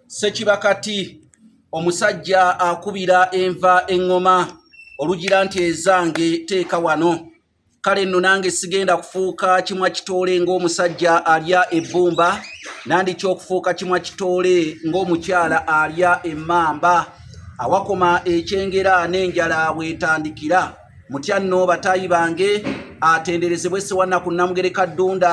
sekiba kati omusajja akubira enva eŋŋoma olugira nti ezange teeka wano kale nno nange sigenda kufuuka kimwa kitoole ng'omusajja alya ebbumba nandikya okufuuka kimwa kitoole ng'omukyala alya emmamba awakoma ekyengera n'enjala weetandikira mutya nno bataayi bange atenderezebwe sewannaku nnamugereka ddunda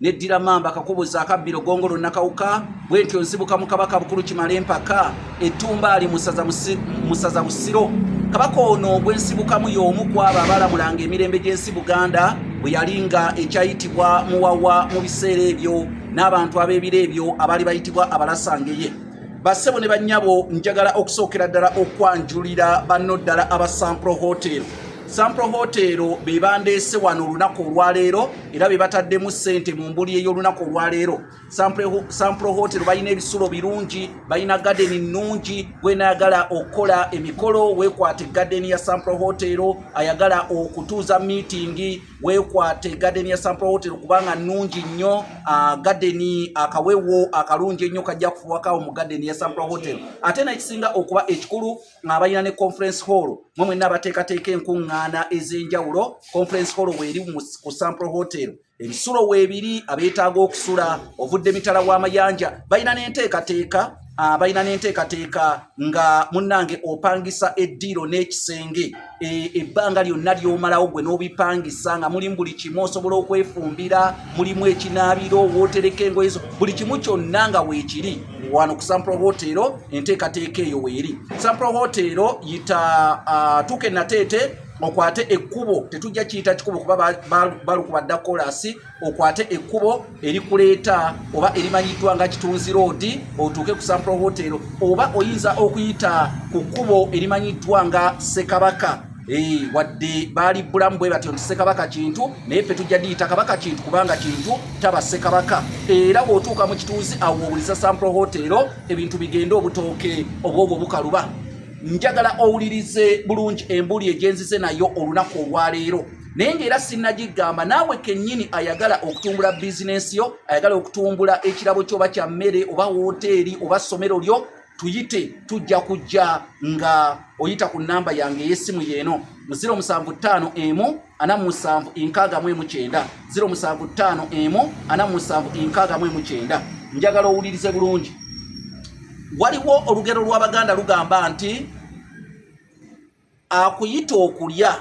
neddira mamba kakubuza akabbiro gongolo nakawuka bwentyo nzibuka mu kabaka bukulu kimala empaka ettumba ali musaza busiro kabaka ono gwensibukamu y'omu ku abo abalamulanga emirembe gy'ensi buganda bwe yali nga ekyayitibwa muwawa mu biseera ebyo n'abantu ab'ebiro ebyo abaali bayitibwa abalasangeye bassebo ne bannyabo njagala okusookera ddala okwanjulira banno ddala aba sampro hotel sampro hotel be bandeese wano olunaku olwaleero era be bataddemu ssente mu mbuli ey'olunaku olwaleero sampule hotel balina ebisulo birungi balina gadeni nnungi gwenayagala okukola emikolo weekwate gadeni ya sampule hotel ayagala okutuuza miitingi weekwate gadeni ya sampule hotel kubanga nnungi nnyo ah, gadeni akawewo akalungi ennyo kajja kufuwakawo mu gadeni ya sampule hotel ate nakisinga okuba ekikulu abalina ne conference hall mwe mwenna abateekateeka enkuŋŋaana ez'enjawulo conference hall weeri ku sample hotel ebisulo weebiri abeetaaga okusula ovudde mitala w'amayanja balina n'enteekateeka abalina ah, n'enteekateeka nga munnange opangisa eddiiro n'ekisenge E, ebbanga lyonna lyomalawo gwe n'obipangisa nga mulimu buli kimu osobola okwefumbira mulimu ekinaabiro wootereka engoye zo buli kimu kyonna nga weekiri wano ku sampro hoteero enteekateeka eyo weeri sampro hoteero yita tuuka enateete okwate ekkubo tetujja kiyita kikubo kuba balukuba dda kolasi okwate ekkubo erikuleeta oba erimanyiddwa nga kitunzi roodi otuuke ku sampro hotel oba oyinza okuyita ku kkubo erimanyiddwa nga ssekabaka Eh, wadde baali bulamu bwe batyo nti sekabaka kintu naye fe tujja diyita kabaka kintu kubanga kintu taba sekabaka era bw'otuuka mu kituuzi awo owuliza sampro hotero ebintu bigende obutooke obwobwo bukaluba njagala owulirize bulungi embuli egyenzize nayo olunaku olwaleero naye ngaera sinagigamba naawe kenyini ayagala okutumbula bizinensi yo ayagala okutumbula ekirabo kyoba kya mmere oba woteeri oba somero lyo tuyite tujja kujja nga oyita ku namba yange eyesimu yeeno mu 075 emu ana musanvu enkaaga mu emu kyenda 075 emu ana musanvu enkaaga mu emu kyenda njagala owulirize bulungi waliwo olugero lw'abaganda lugamba nti akuyita okulya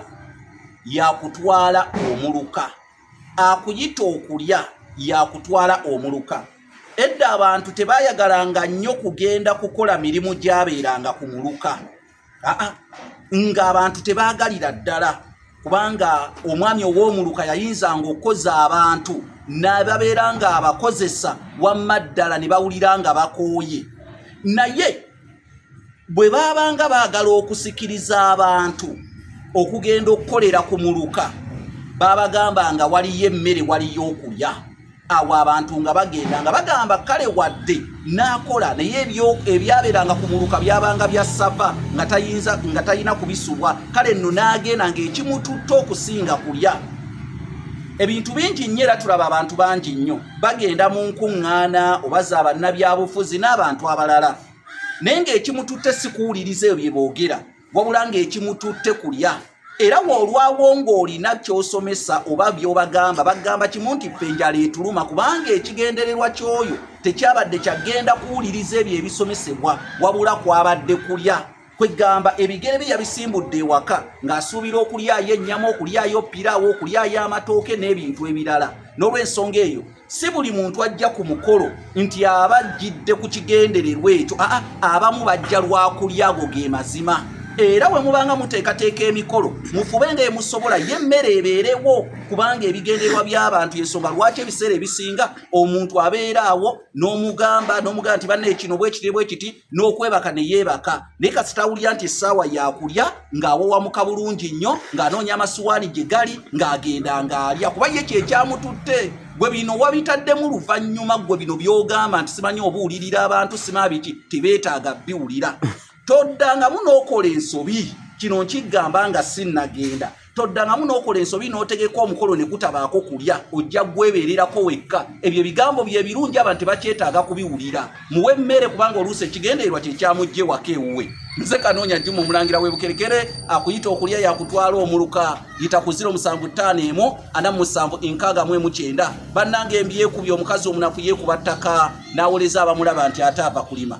yakutwala omuluka akuyita okulya yakutwala omuluka edda abantu tebayagalanga nnyo kugenda kukola mirimu gyabeeranga ku muluka aa ng'abantu tebaagalira ddala kubanga omwami ow'omuluka yayinzanga okukoza abantu nababeera ng'abakozesa wamma ddala ne bawulira nga bakooye naye bwe baabanga baagala okusikiriza abantu okugenda okukolera ku muluka baabagamba nga waliyo emmere waliyo okulya awo abantu nga bagenda nga bagamba kale wadde n'akola naye ebyabeeranga ku muluka byabanga bya sava nga talina kubisubwa kale nno n'agenda ng'ekimututte okusinga kulya ebintu bingi nnyo era tulaba abantu bangi nnyo bagenda mu nkuŋŋaana oba za bannabyabufuzi n'abantu abalala naye ng'ekimututte si kuwuliriza ebyo bye boogera wabula ng'ekimututte kulya era woolwawo ng'olina ky'osomesa oba by'obagamba bagamba kimu nti ffe enjala etuluma kubanga ekigendererwa ky'oyo tekyabadde kyagenda kuwuliriza ebyo ebisomesebwa wabula kwabadde kulya kwegamba ebigere bye yabisimbudde ewaka ng'asuubira okulyayo ennyama okulyayo piraawo okulyayo amatooke n'ebintu ebirala n'olwensonga eyo si buli muntu ajja ku mukolo nti aba ajjidde ku kigendererwa ekyo aa abamu bajja lwakulya ago ge mazima era bwe mubanga muteekateeka emikolo mufube nga emusobola ye emmere ebeerewo kubanga ebigendererwa by'abantu yensonga lwaki ebiseera ebisinga omuntu abeera awo n'omugamba n'omugamba nti banna ekino bwekiti bwekiti n'okwebaka ne yeebaka naye kasita awulira nti essaawa yakulya ng'awawamuka bulungi nnyo ng'anoonya amasuwaani gye gali ng'agenda ng'alya kuba ye kye kyamututte gwe bino wabitaddemu luvannyuma gwe bino by'ogamba nti simanyi obuwulirira abantu simabiki tebeetaaga biwulira toddangamu n'okola ensobi kino nkigamba nga sinnagenda toddangamu n'okola ensobi n'otegeka omukolo ne gutabaako kulya ojja gwebeererako wekka ebyo ebigambo bye birungi abantu tebakyetaaga kubiwulira muwe emmere kubanga oluusi ekigendererwa kye kyamujje waka ewuwe nze kanoonya juma omulangira webukerekere akuyita okulya yakutwala omuluka yita ku 0 musanvu ttaano emu ana mu musanvu enkaaga mu emu kyenda bannanga embyekubye omukazi omunaku yeekuba ttaka n'awoleza abamulaba nti ate ava kulima